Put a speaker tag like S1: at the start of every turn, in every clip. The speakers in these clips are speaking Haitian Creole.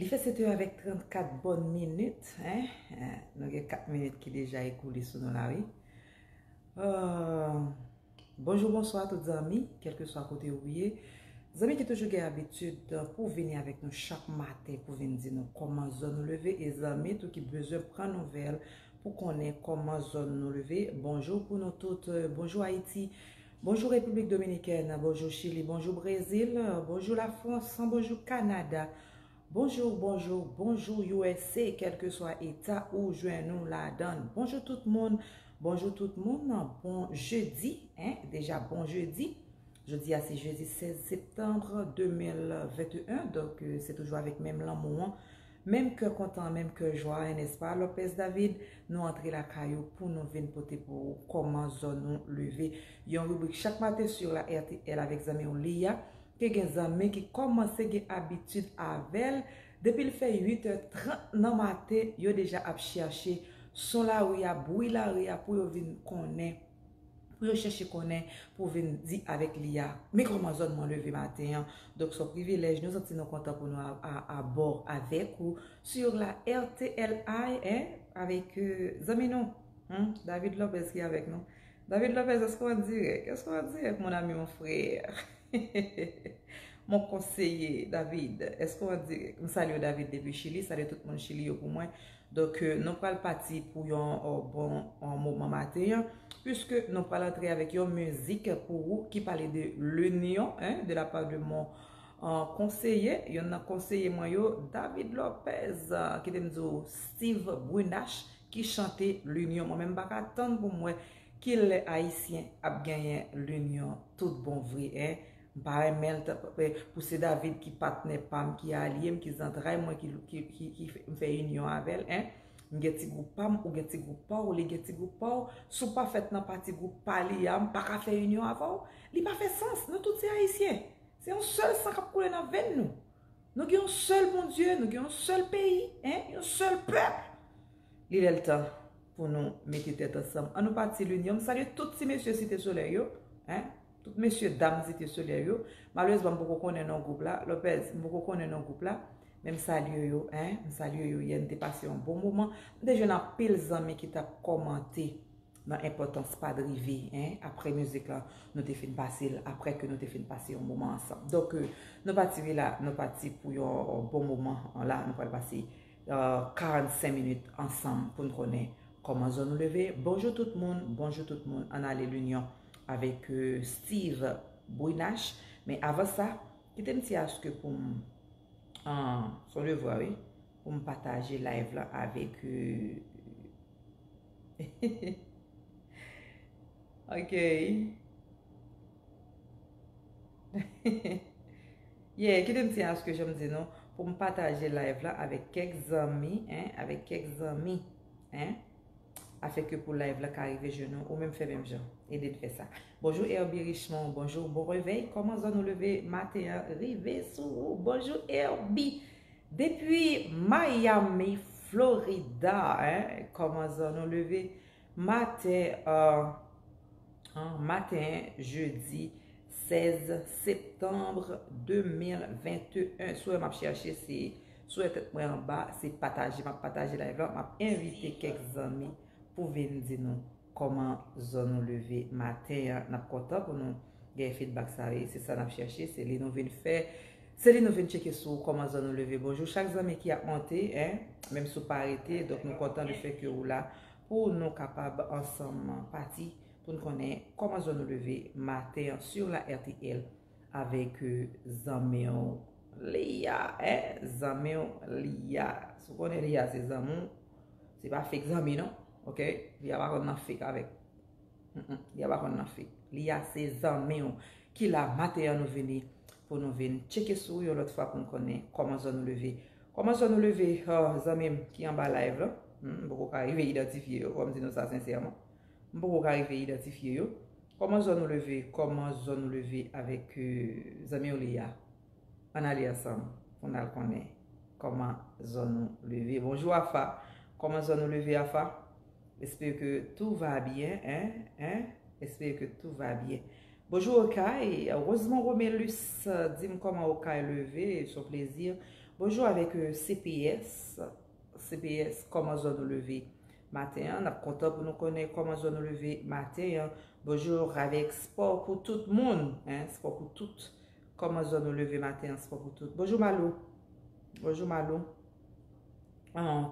S1: Li fè 7 è avèk 34 bòn minit. Nou gen 4 minit ki deja ekoule sou nou la wi. Bonjou, bonswa tout zanmi, kèlke swa kote ou ye. Zanmi ki toujou gen abitid pou vini avèk nou chak maten pou vin di nou kòman zòn nou leve. E zanmi tou ki bezwen pran nouvèl pou konnen kòman zòn nou leve. Bonjou pou nou tout. Bonjou Ayiti. Bonjou Repiblik Dominikèn, bonjou Chili, bonjou Brezil, bonjou Lafrans, bonjou Kanada, bonjou, bonjou, bonjou usa kèlkeswa eta ou jwenn ou ladan l. Bonjou tout moun, bonjou tout moun, bon jedi, hein, deja bon jedi. Jodi a se jedi 16 septanbre 2021, donk se toujou avèk menm lanmou an Menm kè kontan menm kè jwa a nès pa Lopez David, nou antre lakay ou pou nou vin pote pou ou kòman zòn ou leve. Yon ribrik chak maten sur la rtl avèk zanmi w Lia ke gen zanmi ki kòmanse gen abitid avè l depi l fè 8 è 30 nan maten yo deja ap chèche son lari a, bwi lari a pou yo vin konnen. pou yo chèche konnen pou vin di avèk li a men kòman zòn mwen leve maten an donk son privilèj nou santi nou kontan pou nou abò avèk ou sur la RTLI eh avèk zanmi nou humm David Lopez ki avèk nou David Lopez èske w andirèk èske w andirèk mon ami mon frère hehehehe mon conseiller David èske w andirèk m salye w David depi chili salye tout moun chili yo pou mwen Donk nou pral pati pou yon bon moman maten an, puiske nou pral antre avèk yon mizik pou ou ki pale de L'Union de la part de mon konseye, yonn nan konseye mwen yo, David Lopez, kite m di ou Steve Brunache ki chante L'Union. Mwen menm m pa ka tann pou m wè ki lè Ayisyen ap genyen L'Union tout bon vre. M pa renmen l pou se David ki patnè pa m, ki alye m, ki zantray mwen, ki m fè inyon avè l, en. M gen ti gwoup pa m, ou gen ti gwoup pa w, li gen ti gwoup pa w. Si w pa fèt nan pati gwoup pa li a, m pa ka fè inyon avè w. Li pa fè sans. Nou tout se Ayisyen. Se yon sèl san k ap koule nan venn nou. Nou gen yon sèl Bondye, nou gen yon sèl peyi, en, yon sèl pèp. Li lè l tan pou nou mete tèt ansanm. An nou pati linyon. M salye tout ti mesye Site Solèy yo, en. Tout mesye dam Zite Solèy yo, malerezman m poko konnen non gwoup la, Lopez, m poko konnen non gwoup la, men m salye yo, hein, m salye yo yè n te pase yon bon moman, m te jwenn anpil zanmi ki tap kòmante nan enpòtans pa drive, hein, aprè mizik lan nou te fin pase l, aprè ke nou te fin pase yon moman ansanm. Donk, nou pati wi la, nou pati pou yon bon moman, la nou pral pase 45 minit ansanm pou n konnen kòman zòn nou leve. Bonjou tout moun, bonjou tout moun, an ale linyon. avèk Steve Brunache men avan sa kite m ti aske pou m son devwa wi pou m pataje live lan avèk ok yeah kite m ti aske jan m di nou pou m pataje live lan avèk kèk zanmi avèk kèk zanmi Afin que pou live la ka rive jwenn ou, ou menm fè menm jan. Ede n fè sa. Bonjour Herby Richemond, bonjour, bon revey, koman zòn ou leve maten an rive sou ou? Bonjour Herby! Depi Miami, Florida hein, koman zòn ou leve maten an maten jeudi 16 septembre 2021. Sou e map chèche se Sou e tèt mwen anba se pataje map pataje live la map envite kèk zanmi pou vin di nou kòman zò nou leve maten an nap kontan pou nou gen feedback sa wi se sa nap chèche se li nou vin fè se li nou vin tcheke sou kòman zò nou leve bonjou chak zanmi ki ap monte en menm sou pa rete donk nou kontan le fè ke ou la pou nou kapab ansanm pati poun konnen kòman zò nou leve maten an sur la rtl. Avèk zanmi w Liya eh zanmi w Liya Si w konnen Liya se zanmi w Se pa fake zanmi non ok Liya pa konn nan fake avèk Liya pa konn nan fake Liya se zanmi w Ki la maten an nou vini Pou nou vin tcheke sou w yon lòt fwa pou n konnen Kòman zòn ou leve Kòman zòn ou leve Zanmi m ki anba live la M poko ka rive idantifye yo fò m di nou sa sensèman. M poko ka rive idantifye yo. Koman zòn ou leve koman zòn ou leve avèk zanmiw li a ann ale ansanm pou n al konnen koman zòn ou leve bonjou afa koman zòn ou leve afa espere ke tou va byen en en espere ke tou va byen bonjou okay rozmon romelus dim koman okay leve son plezi bonjou avèk cps. CPS, Kòman zò nou leve maten an? N ap kontan pou nou konnen kòman zò nou leve maten an. Bonjou Ravèk, Spò pou tout moun, spò pou tout. Kòman zò nou leve maten an? Spò pou tout. Bonjou Malou, bonjou Malou.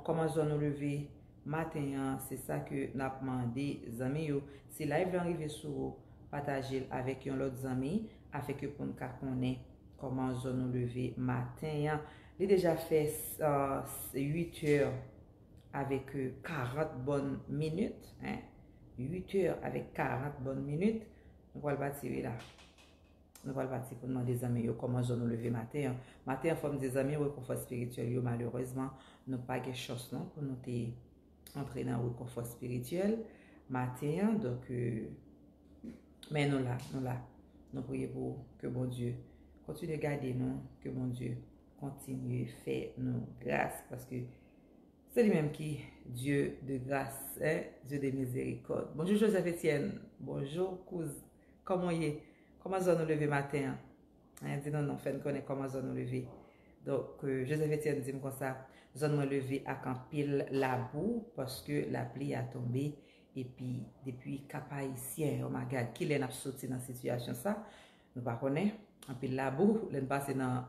S1: Kòman zò nou leve maten an? Se sa ke n ap mande zanmi yo. Si live lan rive sou ou, pataje l avèk yon lòt zanmi afèke pou n ka konnen kòman zò nou leve maten an. Li deja fè 8 è avèk 40 bòn minit. 8 è avèk 40 bòn minit. Nou pral pati wi la. Nou pral pati pou n mande zanmi yo kòman zòn nou leve maten an. Maten an fò m di zanmi rekonfò espirityèl yo malerezman nou pa gen chans non pou nou te. antre nan rekonfò spirityèl maten an donk men nou la nou la nou priye pou ou ke Bondye kontinye gade nou ke Bondye kontinye fè nou gras paske se li menm ki Dye de gras eh Dye de mizerikòd Bonjou Joseph Etienne Bonjou kouz kòman ou ye kòman zòn ou leve maten an. Mwen di non non fè n konnen kòman zòn ou leve. Donk Joseph Etienne di m konsa, zòn mwen leve ak anpil labou paske lapli a tonbe epi depi Kapayisyen o may gad kilè n ap soti nan sitiyasyon sa nou pa konnen anpil labou lè n pase nan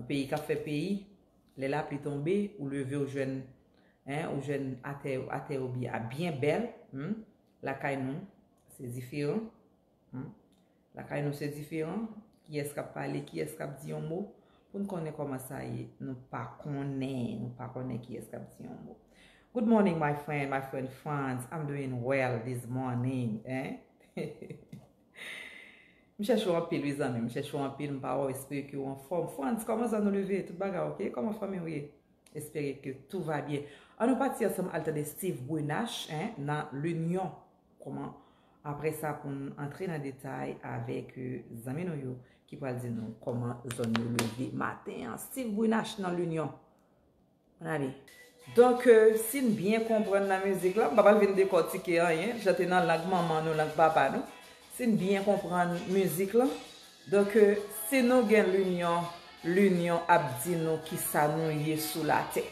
S1: peyi k ap fè peyi lè lapli tonbe ou leve ou jwenn ou jwenn atè yo byen bèl lakay nou se diferan. Hum Lakay nou se diferan, kiyès kap pale, kiyès kap di yon mo, poun konnen koman sa ye, nou pa konnen, nou pa konnen kiyès kap di yon mo. Good morning my friend, my friend Frantz, I'm doing well this morning eh. M chèche w anpil wi zanmi m, m chèche w anpil, m pa wè w, espere ke w anfòm. Frantz, kòman zòn ou leve? Tout bagay ok? Kòman fanmi w ye? Espere ke tou va byen. An nou pati ansanm al tande Steve Brunache nan L'Union Kòman? Apre sa pou n antre nan detay avèk zanmi nou yo ki pral di nou kòman zòn yo leve maten an. Steve Brunache nan L'Union. Ann ale. Donk, si n byen konprann nan mizik la, m pa pral vin dekòtike anyen, li chante nan lang manman nou, lang papa nou. Si n byen konprann mizik la, donk si nou gen L'Union, L'Union ap di nou kisa nou ye sou latè.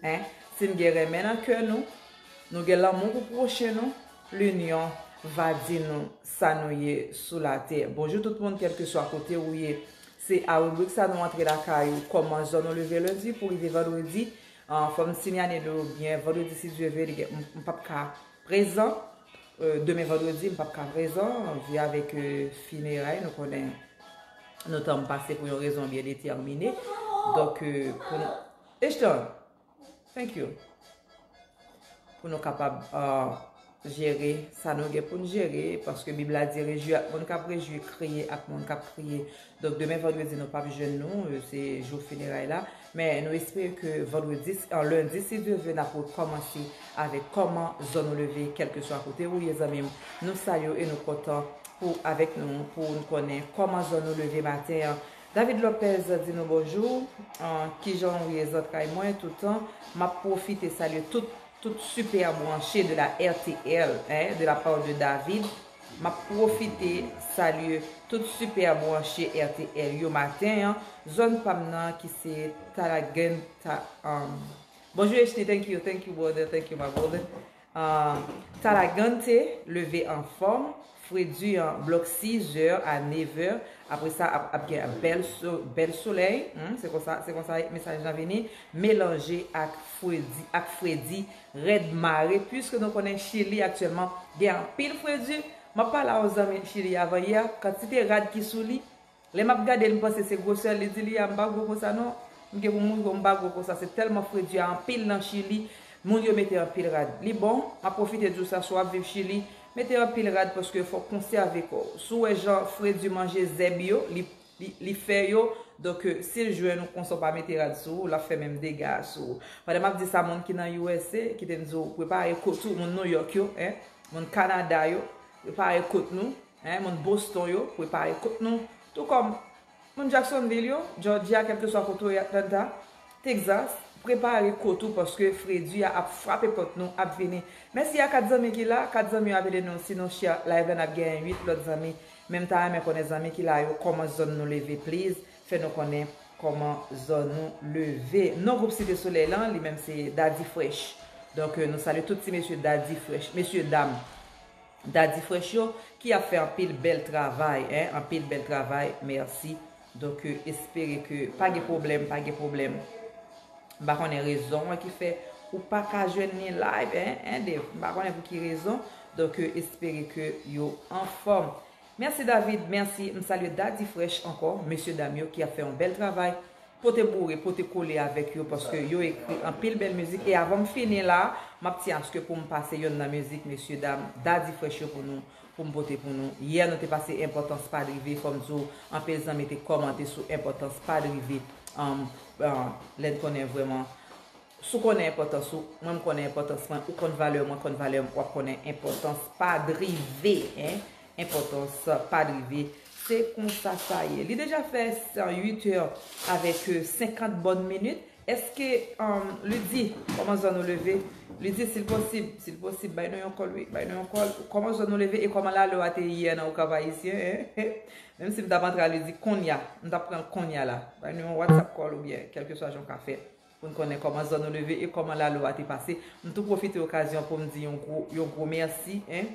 S1: Hein si n gen renmen nan kè nou, nou gen lanmou pou pwochen nou, linyon va di nou sa nou ye sou latè. Bonjou tout moun kèlkeswa kote ou ye. Se a ribrik sa nou antre lakay ou, kòman zòn ou leve lendi pou rive vandredi. Fò m sinyale nou yo byen, vandredi si Dye ve li gen m pap ka prezan, demen vandredi m pap ka prezan, anvi avèk fineray nou konnen nou tan m pase pou yon rezon byen detèmine. Donk pou nou. Ishtar, thank you. Pou nou kapab jere sa nou gen pou nou jere, paske Bib la di rejwi ak moun kap rejwi, kriye ak moun kap kriye. Donk demen vandredi nou pap jwenn nou, se jou fineray la. Men nou espere ke vandredi, an lendi si Dye vle nap rekòmanse avèk kòman zòn ou leve, kelke swa kote ou ye zanmi m. Nou salye w e nou kontan pou avèk nou, pou nou konnen kòman zòn ou leve maten an. David Lopez di nou bonjou, kijanw ye zantray mwen toutan, map profite salye tout tout super branche de la rtl eh de la part de David, map profite salye tout super branche rtl yo maten an, zòn pam nan ki se Talagent ta umm. Bonjou Echni thank you thank you brother thank you my brother Talagante leve anfòm, fredi an blòk 6 zè a 9 vè, apre sa ap gen bèl solèy, se konsa mesaj lan vini, melanje ak fredi rèd mare, puiske nou konnen Chili aktyèlman gen anpil fredi, m ap pale a yon zanmi Chili avan yè, kantite rad ki sou li, Lè map gadel m panse se gwosè li di li a m pa gwo konsa non m gen pou mouri bon m pa gwo konsa se tèlman fredi a anpil nan chili moun yo mete anpil rad li bon map pwofite diw sa si wap viv chili mete anpil rad paske fok konsève kòw si w wè jan fredi manje zèb yo li li fè yo donk sil jwenn ou konsa w pa mete rad sou ou lap fè menm dega a sou ou pandan map di sa moun ki nan usa kitem di w prepare kot ou moun nouyòk yo hein moun kanada yo prepare kot nou. Hein moun Boston yo prepare kot nou tou kòm moun Jacksonville yo, Georgia kelkeswa kote ou ye Atlanta, Texas prepare kot ou paske fredi a ap frape pòt nou ap vini. Mèsi a 4 zanmi ki la, 4 zanmi yo ap ede nou sinon share live la nap genyen 8 lòt zanmi men mta renmen konnen zanmi ki la yo kòman zòn nou leve please fè nou konnen kòman zòn nou leve. Non gwoup Site Solèy lan li menm se Daddy Fresh donk nou salye tout ti mesye Daddy Fresh mesye dam Dady fresh yo ki ap fè anpil bèl travay hein anpil bèl travay merci donc espere ke pa gen problème pa gen problème m pa konnen rezon an ki fè ou pa ka jwenn ni live hein hein Dave m pa konnen pou ki rezon donc espere ke yo anfòm. Merci David merci m salye Dady fresh ankò mesye dam yo ki ap fè yon bèl travay pote boure pote kole avèk yo paske yo ekri anpil bèl mizik e avanm fini la map ti aske poum pase yonn nan mizik mesye dam Dady fresh yo pou nou poum pote pou nou yè nou te pase enpòtans pa drive fòm diw anpil zanmi te kòmante sou enpòtans pa drive lèn konnen vrèman Si w konnen enpòtans ou, mwen m konnen enpòtans mwen, ou konn valè w, mwen konn valè m, w ap konnen enpòtans pa drive, hein, enpòtans pa drive. Se konsa sa ye. Li deja fè 8 è avèk 50 bòn minit. Eske, um, Ludy, kòman zòn ou leve? Ludy, si l posib, si l posib, bay nou yon kòl wi, bay nou yon kòl. Kòman zòn ou leve e kòman lalè w a te yè nan Okap Ayisyen, hein, hein? Menm si m t ap antre a Ludy konnya, m t ap pran l konnya la. Bay nou yon WhatsApp kòl oubyen kèlkeswa jan w ka fè. pou n konnen kòman zòn ou leve e kòman lalo a te pase m tou pwofite okazyon pou m di yon gwo yon gwo mèsi en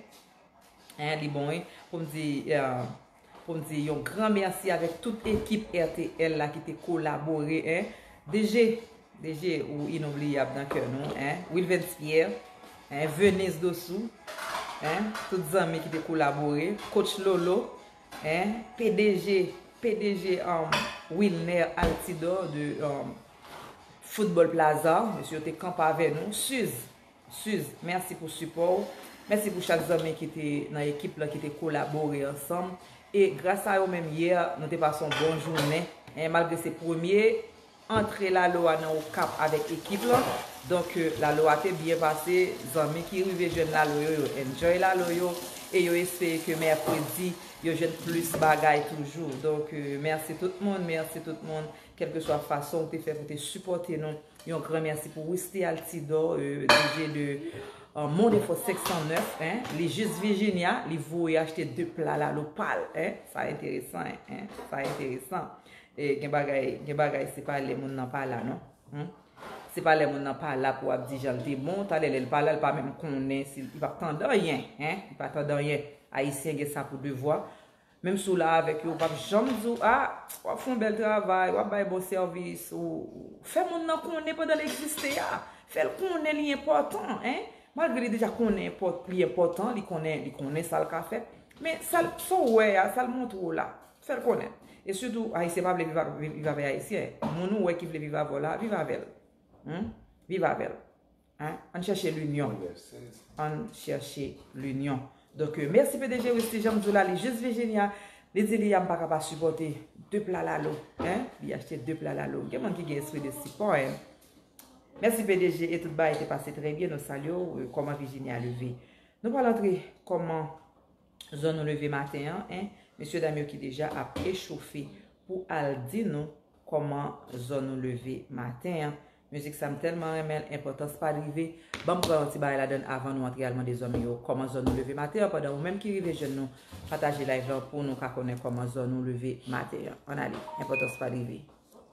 S1: en li bon wi pou m di pou m di yon gran mèsi avèk tout ekip RTL la ki te kolabore en DG DG ou inoubliyab nan kè nou en Wilvens Pierre en Venise Dossou en tout zanmi ki te kolabore Coach Lolo. Hein pdg pdg um Wilner Altidor de um Football Plaza mesye yo te kanpe avè nou Suze Suze mèsi pou sipò ou mèsi pou chak zanmi ki te nan ekip lan ki te kolabore ansanm e gras a yo menm yè nou te pase yon bon jounen hein malgre se premye Antre lalo a nan okap avèk ekip lan donk lalo a te byen pase zanmi ki rive jwenn lalo yo yo enjoy lalo yo e yo espere ke mèkredi yo jwenn plis bagay toujou donk mèsi tout moun mèsi tout moun kèlkeswa fason ou te fè pou te sipòte nou yon gran mèsi pou Wisly Altidor DJ de Mon Défaut 509 en li jis Virginia li voye achte 2 pla lalo pal en sa enteresan en sa enteresan. Gen bagay gen bagay se pa lè moun nan pa la non humm se pa lè moun nan pa la pou ap di jan l te bon talè lè l pa la l pa menm konnen si li pap tande anyen hein li pa tande anyen ayisyen gen sa pou devwa menm si w la avèk yo yo pap janm di w ah wap fè yon bèl travay wap bay bon sèvis ou fè moun nan konnen pandan l egziste a fè l konnen li enpòtan hein malgre li deja konnen li enpòtan li konnen li konnen sa l ka fè men sa l sa w wè a sa l montre w la Fèl konnen. E sitou ayisyen pa vle viv avè ayisyen. Moun ou wè ki vle viv avè w la, viv avè l. Humm. Viv avè l. Hein. Ann chèche linyon. Ann chèche linyon. Donk mèsi pdg Wisly janm di w la li jis Virginia, li di li a m paka pa sipòte 2 pla lalo. Hein. Li achte 2 pla lalo. Gen moun ki gen espri de sipò hein. Mèsi pdg e tout bagay te pase trè byen nou salye w kòman Virginia leve. Nou pral antre kòman. zòn nou leve maten an en mesye dam yo ki deja ap echofe pou al di nou kòman zòn nou leve maten an mizik sa m tèlman renmen l enpòtans pa l rive banm pran yon ti bagay ladann avan nou antre al mande zanmi yo kòman zòn nou leve maten an pandan ou menm ki rive jwenn nou pataje live lan pou nou ka konnen kòman zòn nou leve maten an ann ale enpòtans pa l rive.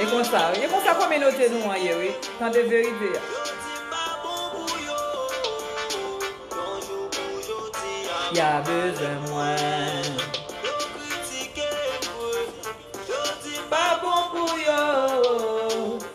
S1: E konsa wi, e konsa kominote nou an ye wi, tande verite a. Ya bezwen mwen. Yo kritike m vre, yo di m pa bon pou yo.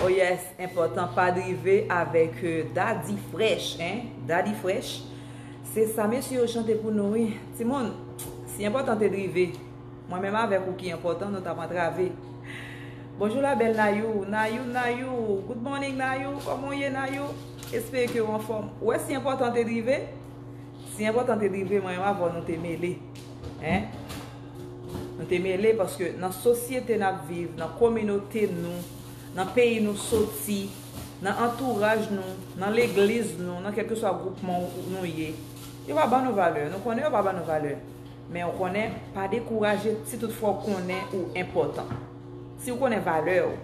S1: Oh yes enpòtan pa drive avèk Daddy fresh hein Daddy fresh se sa mesye yo chante pou nou wi timoun si enpòtan te drive mwen menm avèk ou ki enpòtan nou tap antrave Bonjour la belle Nayou Nayou Nayou Good morning Nayou kòman ou ye Nayou espere ke ou anfòm ou wè si enpòtan te drive si enpòtan te drive mwen menm avèw nou te mele. Hein? Nou te mele paske nan sosyete nap viv, nan kominote nou, nan peyi nou soti, nan antouraj nou, nan legliz nou, nan kelkeswa gwoupman nou ye, yo pa ban nou valè. Nou konnen yo pa ban nou valè. Men ou konnen, pa dekouraje si tout fwa ou konnen ou enpòtan. Si ou konnen valè ou,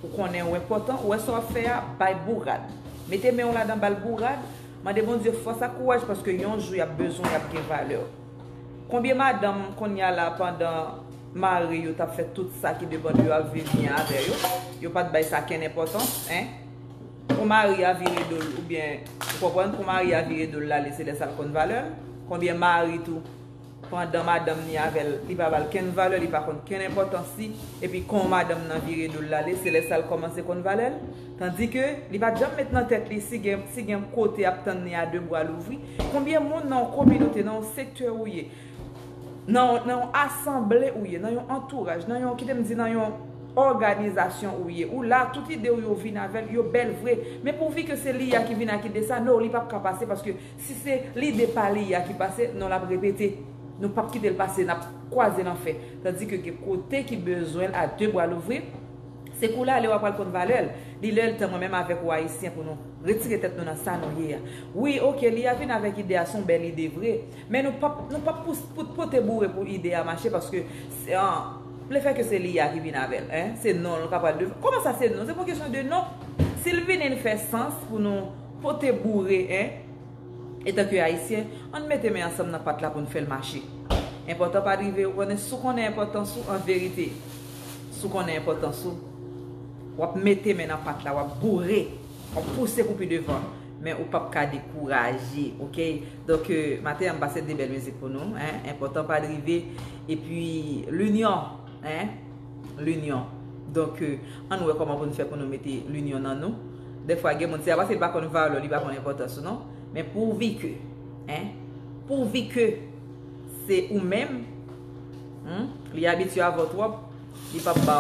S1: ou konnen ou enpòtan, ou wè sa wap fè a, bay bourad. Mete men ou ladan bal bourad. Mande Bondye fòs ak kouraj paske yon jou yap bezwen yap gen valeur. Konbyen madanm konnya la pandan Mari yo tap fè tout sa ki depan de yo ap viv byen avè yo, yo pat bay sa kenn enpòtans hein. Pou Mari a vire dol oubyen ou konprann pou Mari a vire dol lale se lè sa l konn valè l. Konbyen Mari tou pandan madanm ni avè l li pa ba l kenn valè li pa konn kenn enpòtans li epi kon madanm nan vire do l l ale se lè sa l kòmanse konn valè l tandike li pat janm met nan tèt li si gen si gen yon kote ap tann li a de bra louvri konbyen moun nan yon kominote nan yon sektè ou ye nan yon nan yon asanble ou ye nan yon antouraj nan yon kite m di nan yon òganizasyon ou ye ou la tout ide w yo vin avè l yo bèl vre men pouvi ke se li a ki vin ak ide sa no li pap ka pase paske Si se lide pa li a ki pase, non l ap repete. Nou p ap kite l pase, n ap kwaze lanfè. Tandi ke gen kote ki bezwen l a de bra louvri, se kou lale w a pral konn valè l. Li lè l tan mwen menm avèk ou Ayisyen pou nou retire tèt nou nan sa nou ye a. Wi, ok, li a vin avèk ide a, s on bèl ide vre, men nou p ap nou p ap pout pote boure pou ide a mache paske lefèke se li a ki vin avè l, se non l k ap pral devan. Kòman sa se non? Se pa yon kesyon de non. Si l vini l fè sans pou nou. Pote boure en! Etanke Ayisyen, an n mete men ansanm nan pat la pou n fè l mache. Enpòtan pa drive ou konnen si w konnen enpòtans ou anverite. Si w konnen enpòtans ou, w ap mete men nan pat la, w ap boure, w ap pouse pou pi devan, men ou p ap ka dekouraje. Ok! Donk, maten an m pase de bèl mizik pou nou. Enpòtan pa drive, epi linyon. Linyon. Donk, ann wè kòman pou n fè pou nou mete linyon nan nou. Dèfwa gen moun, se pa paske li pa konn valè w, li pa konn enpòtans ou non. Men pouvi ke, en, pouvi ke se ou menm, en, li abitye avè w twòp, li p ap ba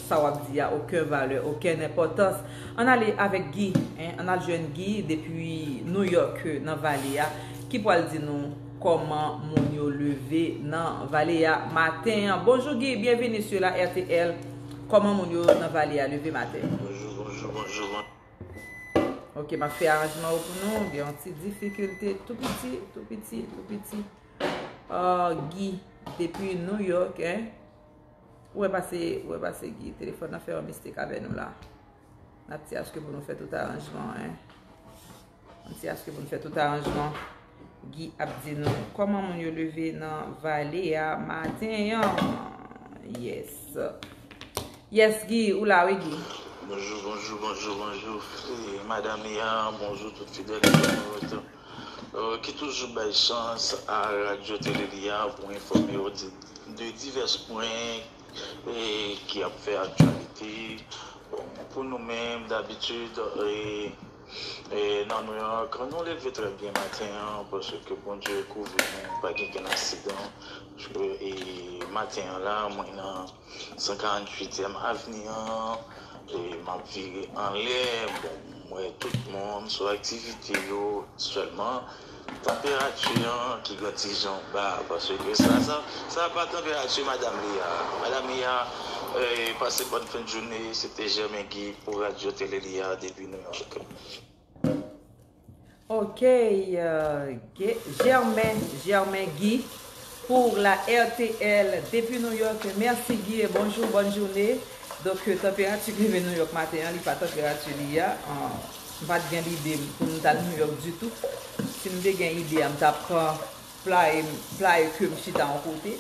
S1: sa w ap di a oken valè, oken enpòtans. Ann ale avèk Guy, en, ann al jwenn Guy depi Nouyòk, nan Vale a, ki pral di nou. Koman moun yo leve nan vale a maten an. Bonjou Guy byenvini su la rtl koman moun yo nan vale a leve maten an. Bonjou bonjou
S2: bonjou
S1: bon. Ok map fè aranjman yo pou nou gen yon ti difikilte tou piti tou piti tou piti ahh Guy depi New York hein ou wè pase ou wè pase Guy telefòn nan fè yon mistake avè nou la nap ti achte pou nou fè tout aranjman hein. An ti aske pou n fè tout aranjman. Guy ap di nou kòman moun yo leve nan vale a maten an. Yes. Yes Guy, ou la wi Guy. Bonjou, bonjou, bonjou,
S2: bonjou. Madam Ia, bonjou tout fidèl entènot yo. Ki toujou bay chans a Radyo Tele Lia pou enfòme yo de divès pwen ki ap fè aktyalite. Bon, pou nou menm dabitid, E nan nou an kan nou leve trè byen maten an paske Bondye kouvri nou pa gen ken aksidan e maten an la mwen nan 148 èm avni an e map vire anlè bon mwen tout moun sou aktivite yo sèlman. Tanperati an ki gen ti jan ba paske sa sa pa tanperati madam li a. Madam li a pase bòn fen joune se te Germain Guy pou radyo tele li a depi New York.
S1: Ok Germain Germain Guy pou la RTL depi New York merci Guy e bonjou bòn joune. Donk tanperati ki rive New York maten an li pa tanperati li a. M pat gen lide pou m t al New York ditou. Si m te gen ide a m t ap pran playe m, playe ke m chita yon kote.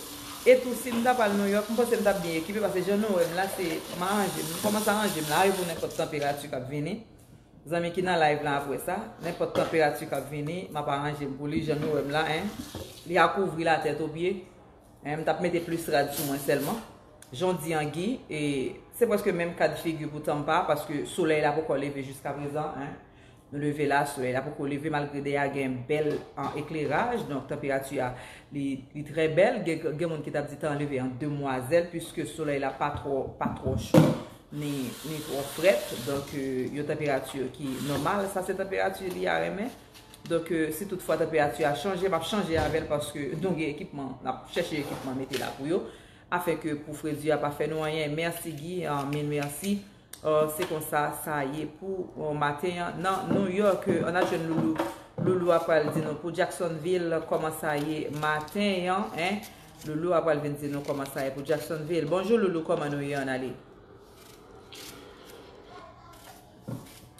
S1: E tou si m t ap al New York m panse m t ap byen ekipe paske jan nou wè m la se m aranje m, m kòmanse aranje m la a pou nenpòt tanperati k ap vini. Zanmi ki nan live lan ap wè sa, nenpòt tanperati k ap vini m ap aranje m pou li jan nou wè m la en. Li a kouvri la tèt o pye. M tap mete plis rad sou mwen sèlman. Jan w di an Guy, e se prèske menm kad figi pou Tampa paske solèy la poko leve jiskaprezan. Nou leve la, solèy la poko leve malgre dèyè a gen bèl ekleraj. Donk tanperati a li trè bèl. Gen moun ki tap di tan leve an demwazèl piske solèy la pa twò cho ni twò frèt. Donk yon tanperati ki nòmal. Sa se tanperati Lia renmen. Donk si tout fwa tanperati a chanje, map chanje avèl paske nou gen ekipman, nap chèche ekipman mete la pou yo. Afin ke pou fredi a pa fè nou anyen. Merci Guy, mil merci. Se konsa sa ye pou maten an nan New York. An al jwenn Loulou. Loulou a pral di nou pou Jacksonville koman sa ye maten an. Loulou a pral vin di nou koman sa ye pou Jacksonville. Bonjou Loulou, koman nou ye an ale?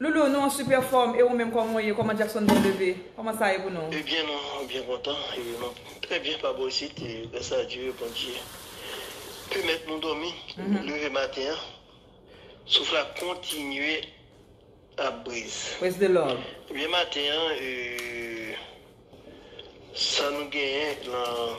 S3: Loulou nou an
S1: super fòm e ou menm kòman ou ye kòman Jackson byen leve kòman sa ye pou nou. Ebyen nou byen
S3: kontan e nou trè byen pa bò isit e grasa a Dye Bondye pèmèt nou dòmi leve maten an souf la kontinye ap briz ebyen
S1: maten an
S3: sa nou genyen lan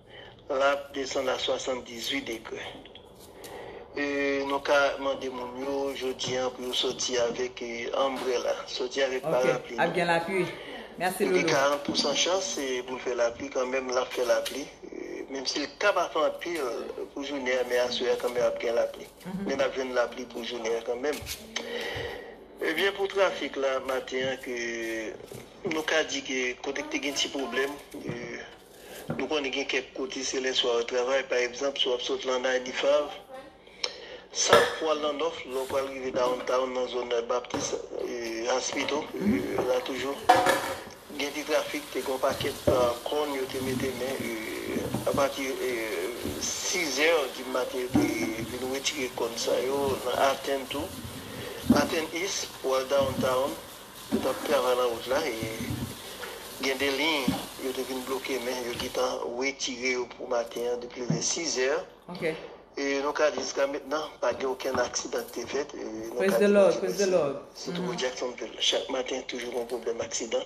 S3: L ap desann a 78 degre. E nou ka mande moun yo jodi an pou yo soti avèk anbrela, soti avèk parapli nou. Ok, ap gen lapui.
S1: Mèsi Loulou. Nou gen 40 pousan chans
S3: pou l fè lapli kanmenm, l ap fè lapli. Menm si l ka pa fè anpil pou jounen an men aswè a kanmenm ap gen lapli. Men n ap jwenn lapli pou jounen an kanmenm. Ebyen pou trafik la maten an ke nou ka di ke kote ki te gen ti pwoblèm. Nou konnen gen kèk kote se lèswa yo travay, pa egzanp, si w ap sot lan Ninth Ave, South pou w al nan North, lè w pral rive Downtown nan zòn Baptist Hospital la toujou gen ti trafik, te gen yon pakèt kòn yo te mete men apati 6 zè di maten yo te vin retire kòn sa yo nan Athens tou, Athens East pou w al Downtown. Yo tap travay lan wout la e gen 2 liy yo te vin bloke men yo getan wetire yo pou maten an depi vè 6 zè e
S1: nou ka di
S3: jiska mentnan pa gen okenn aksidan ki te fèt e nou ka di
S1: Bondye mèsi sitou pou Jacksonville
S3: chak maten toujou gon pwoblèm aksidan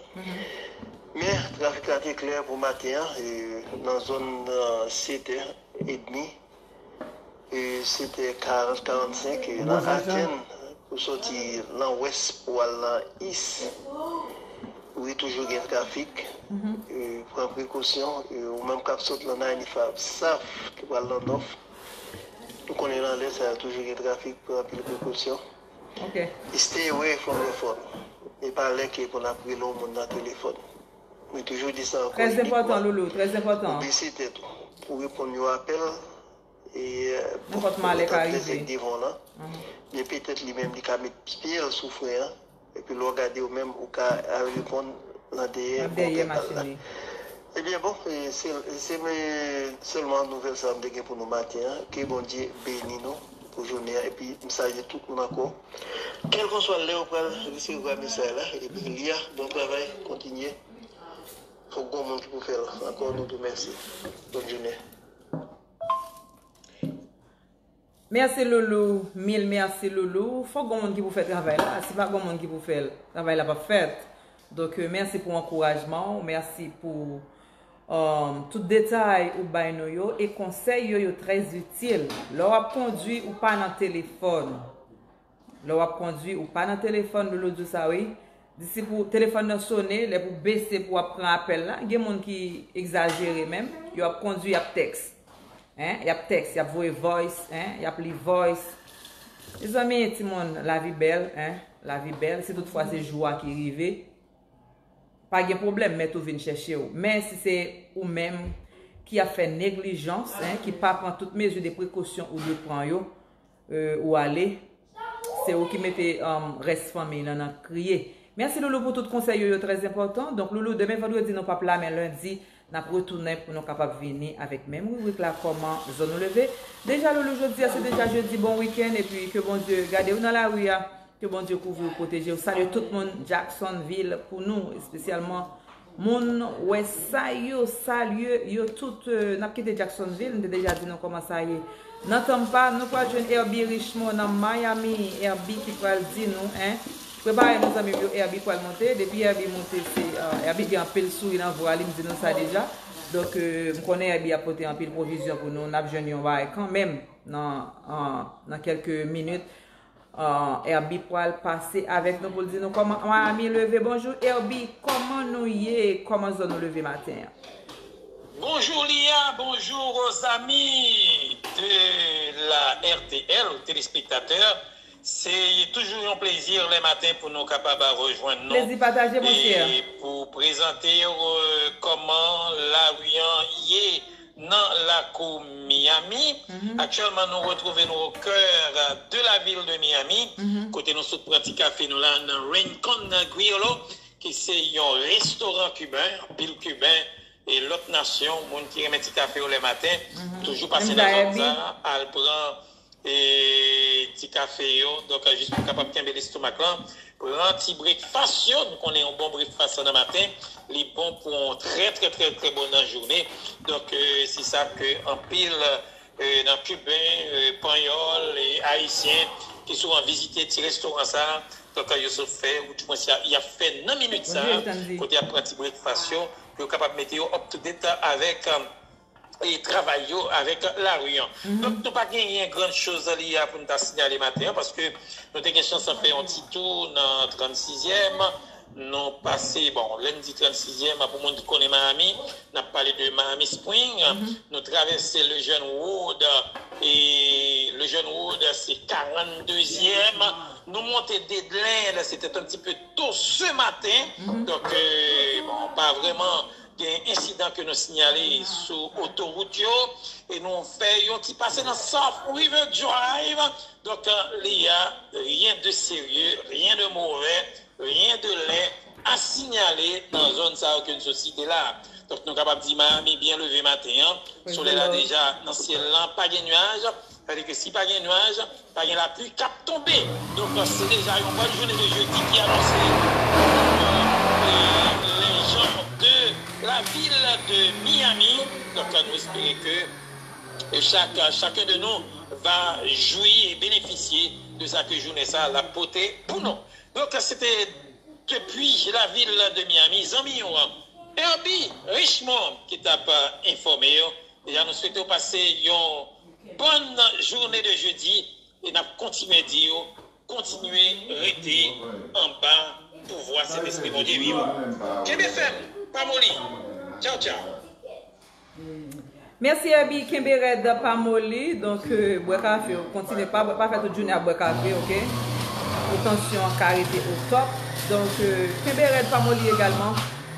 S3: men trafik la te klè pou maten an e nan zòn 7 è edmi. E se te 40, 45 e lan Aten pou soti lan wès pou al lan is. Wi toujou gen trafik e pran prekosyon e ou menm kap sot lan Naynifa, Bsaf ki pral lan Nòf. Nou konnen lan lè sa yo toujou gen trafik pran anpil prekosyon.
S1: Stay away
S3: from your phone. E pa lè ke pou nap rele yon moun lan telefòn. Mwen toujou di sa ankò e de fwa,
S1: ou bese tèt ou
S3: pou reponn yon apèl e bon moun nan
S1: ta trè sèk devan w lan,
S3: men petèt li menm li ka met pye l sou fren an epi lè w gade ou menm ou ka al reponn nan dèyè motè kal la.
S1: Ebyen
S3: bon se se sèlman nouvèl sa a m te gen pou nou maten an, ke Bondye beni nou pou jounen an epi m salye tout moun ankò. Kelkonswa lèw pral resevwa mesay la ebyen li a bon travay kontinye fok gon moun ki pou fèl ankò nou tou mèsi bòn jounen.
S1: Merci loulou mil merci loulou fok gon moun ki pou fè travay la si pa gon moun ki pou fèl travay la pap fèt donk merci pou ankourajmanw merci pou. Tout detay ou bay nou yo e konsèy yo yo trè itil. Lè w ap kondwi ou pa nan telefòn. Lè w ap kondwi ou pa nan telefòn Loulou di w sa wi. Di si pou telefòn nan sone lè pou bese pou w ap pran apèl la. Gen moun ki egzajere menm. Yo ap kondwi y ap tèks. Y ap tèks, y ap voye voice, y ap li voice. Mezanmi timoun lavi bèl, lavi bèl. Si tout fwa se jou a ki rive. Pa gen pwoblèm mèt ou vin chèche w. Men si se ou menm ki ap fè neglijans, ki pa pran tout mezi de prekosyon ou dwe pran yo, ou ale, se ou ki mete rès fanmiy lan nan kriye. Mèsi Loulou pou tout konsèy yo, yo trèzenpòtan. Donk Loulou, demen vandredi nou pap la men lendi Nap retounen pou nou kapab vini avèk menm ribrik la kòman zòn ou leve deja loulou jodia se deja jedi bon weekend epi ke Bondye gadew nan lari a ke Bondye kouvriw pwotejew salye tout moun Jackson vil pou nou espesyalman moun wè sa yo salye yo tout nap kite Jackson vil m te deja di nou kòman sa ye nan Tampa nou pral jwenn Herby Richemond nan Miami Herby ki pral di nou en. Prepare nou zanmim yo Herby pwal monte depi Herby monte se Herby gen anpil souri nan vwa li m di nou sa deja donk m konnen Herby ap pote anpil pwovizyon pou nou nap jwenn yon bagay kanmenm nan kelke minit Herby pwal pase avek nou poul di nou koman Miami leve bonjou Herby koman nou ye koman zon nou leve maten an.
S4: Bonjour Lia bonjour aux amis de la rtl ou telespektatè Se toujou yon plezi le maten pou nou kapab rejwenn nou e
S1: pou prezante
S4: w kòman lari an ye nan lakou Miyami. Aktyèlman nou retwouve nou o kè de lavil de Miyami kote nou sot pran ti kafe nou la nan Rincon Griolo ki se yon restoran kiben. Anpil kiben e lòt nasyon, moun ki renmen ti kafe yo le maten toujou pase nan zòn sa a al pran. E ti kafe yo. Donk jis pou kapab kenbe lestomak lan, pran ti brekfas yo. Nou konnen yon bon brekfas nan maten, li bon pou yon trè trè trè trè bon nan jounen. Donk se sa ke anpil nan kiben, panyòl, ayisyen ki souvan vizite ti restoran sa, donk yo sot fè ou di mwens y ap fè nan minit sa, kote y ap pran ti brekfas yo pou yo kapab mete yo up to date avèk. travay yo avèk lari an. Donk nou pa genyen grann choz li a pou n ta siyale maten an paske nou te gen chans fè yon ti tou nan 36 zièm nou pase bon lè n di 36 zièm pou moun ki konnen Miami n ap pale de Miami Spring nou travèse Lejeune Road e Lejeune Road se 42 zièm nou monte Dedlen se te t antipe to se maten donk bon pa vrèman Gen ensidan ke nou sinyale sou otowout yo e nou fè yon ti pase nan South River Drive. Donk li a ryen de serye, ryen de move, ryen de lè a sinyale nan zòn sa yo ke n sot site la. Donk nou kapab di Miami byen leve maten an, solèy la deja nan syèl lan, pa gen nuaj. Sa vle di ke si pa gen nwaj, pa gen lapli k ap tonbe. Donk, se deja yon bòn jounen de jedi ki anonse pou lèjan de lavil de Miyami. Donk, nou espere ke chak, chaken de nou va jwi e benefisye de sa ke jounen sa l ap pote pou nou. Donk, se te depi lavil de Miyami, zanmi ou an, Herby Richemond ki t ap enfòme ou Deja nou swete w pase yon bòn joune de jedi e nap kontinye di yo kontinye rete anba pouvwa Sentespri Bondye viv la. Kenbe fèm, pa moli! Tchaw tchaw!
S1: Mèsi Herby kenbe rèd pa moli donk bwè kafe w kontinye pa bwè pa fè tout jounen ap bwè kafe ok pou tansyon an ka rete otòp donk kenbe rèd pa moli egalman.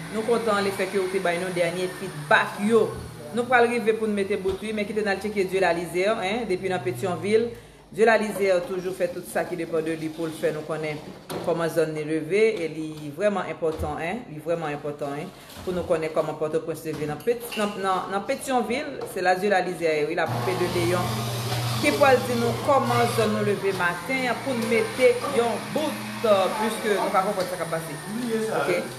S1: Nou kontan le fèt ke ou te bay nou dènye feedback yo. Nou pral rive pou n mete bout wi men kite n al tcheke Dieulalizer 1 depi nan Petyonvil. Dieulalizer toujou fè tout sa ki depan de li pou l fè nou konnen kòman zòn li leve e li vrèman enpòtan 1, li vrèman enpòtan 1 pou nou konnen kòman Pòtoprens leve nan nan Petyonvil. Se la Dieulalizer ye wi la poupe de Leyon ki pral di nou kòman zòn nou leve maten an pou n mete yon bout puiske nou pa konprann sa k ap pase ok.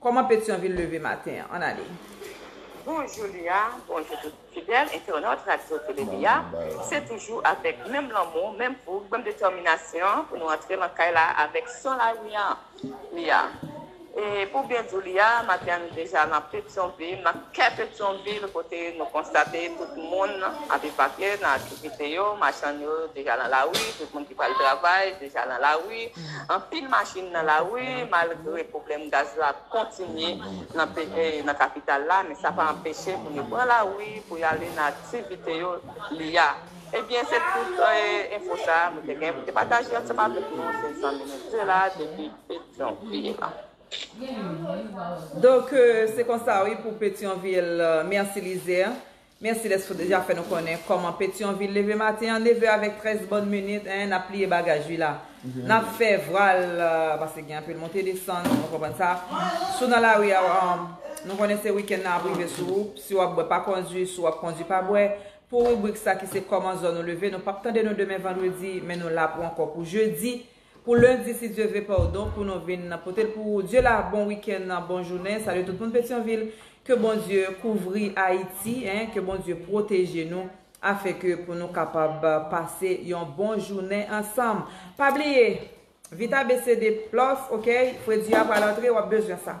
S1: Kòman Petyonvil leve maten an? Ann ale. Bonjou
S5: Lia, bonjou tout fidèl entènòt Radyo Tele Lia, se toujou avèk menm lanmou, menm foug, menm detèminasyon pou nou antre lan kay la avèk son lari an Lia. E pou byen di w Lia, maten an nou deja lan Petyonvil, lan kè Petyonvil kote nou konstate tout moun ap evakye nan aktivite yo, machann yo deja lan lari, tout moun ki pral travay deja lan lari. Anpil machin nan lari malgre pwoblèm gaz la kontinye nan kapital la men sa pa anpeche moun yo pran lari pou y ale nan aktivite yo li a. Ebyen se tout enfo sa mwen te gen pou te pataje ansanm avèk nou se Zanmine Dela depi Petyonvil.
S1: Donk se konsa wi pou Petyonvil. Merci Lizer. Merci les fou deja fè nou konnen koman petion ville leve maten an 9 heures avec 13 bonnes minutes hein nap pliye bagage wi la nap fè vwal paske gen anpil monte desann nou konprann sa si w nan lari a nou konnen se week-end nan ap rive sou ou si wap bwè pa kondwi si w ap kondwi pa bwè pou ribrik sa ki se koman zòn ou leve nou pap tande nou demen vendredi men nou la pou anko pou jeudi Pou lundi si Dieu ve pardon pou nou vin potel pou ou Dieu la bon weekend bon jounen salye tout moun petyonvil ke bon Dieu kouvri ayiti hein ke bon Dieu proteje nou afin ke pou nou kapab pase yon bon jounen ansanm pa bliye vit abecede plus ok fredi a pral antre wap bezwen sa.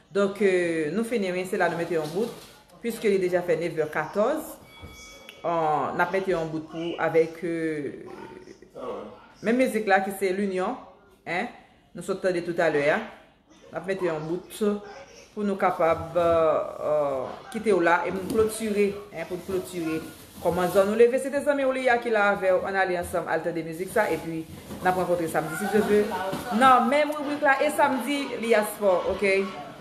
S1: Donk nou fini wi se la nou mete yon bout puiske li deja fè 9 vè 14 nap mete yon bout pou avèk menm mizik la ki se l'union nou sot tande tout alè ya nap mete yon bout pou nou kapab kite w la e pou nou klotire Kòman zòn ou leve sete zanmi w li a ki la avèw ann ale ansanm al tande mizik sa epi nap rankontre samdi si Dye ve nan menm ribrik la e samdi li a spò ok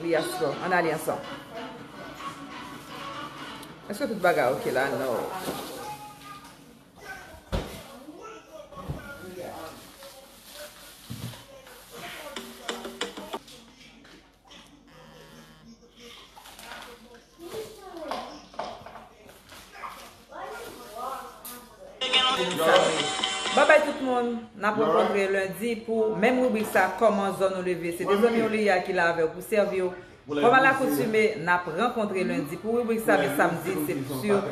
S1: li a spò ann ale ansanm èske tout bagay ok la no. Bye bye tout moun, nap rankontre lundi pou menm ribrik sa Koman zòn ou leve se de zanmiw Liya ki la avèw pou sèviw Kòm a lakoutume nap rankontre lundi pou ribrik sa men samdi se sur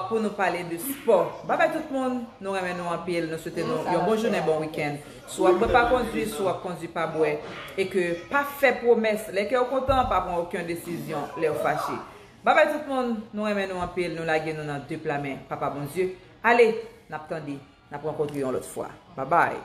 S1: pou nou pale de spò Bye bye tout moun, nou renmen nou anpil nou swete nou yon bon jounen bon weekend Si w ap bwè pa kondwi, si w ap kondwi pa bwè, e ke pa fè pwomès lè kè w kontan, pa pran oken desizyon lè w fache. Bye bye tout moun, nou renmen nou anpil, nou lage nou nan de pla men Papa Bondye. Ale, n ap tande, n ap rankontre yon lòt fwa. Bye bye.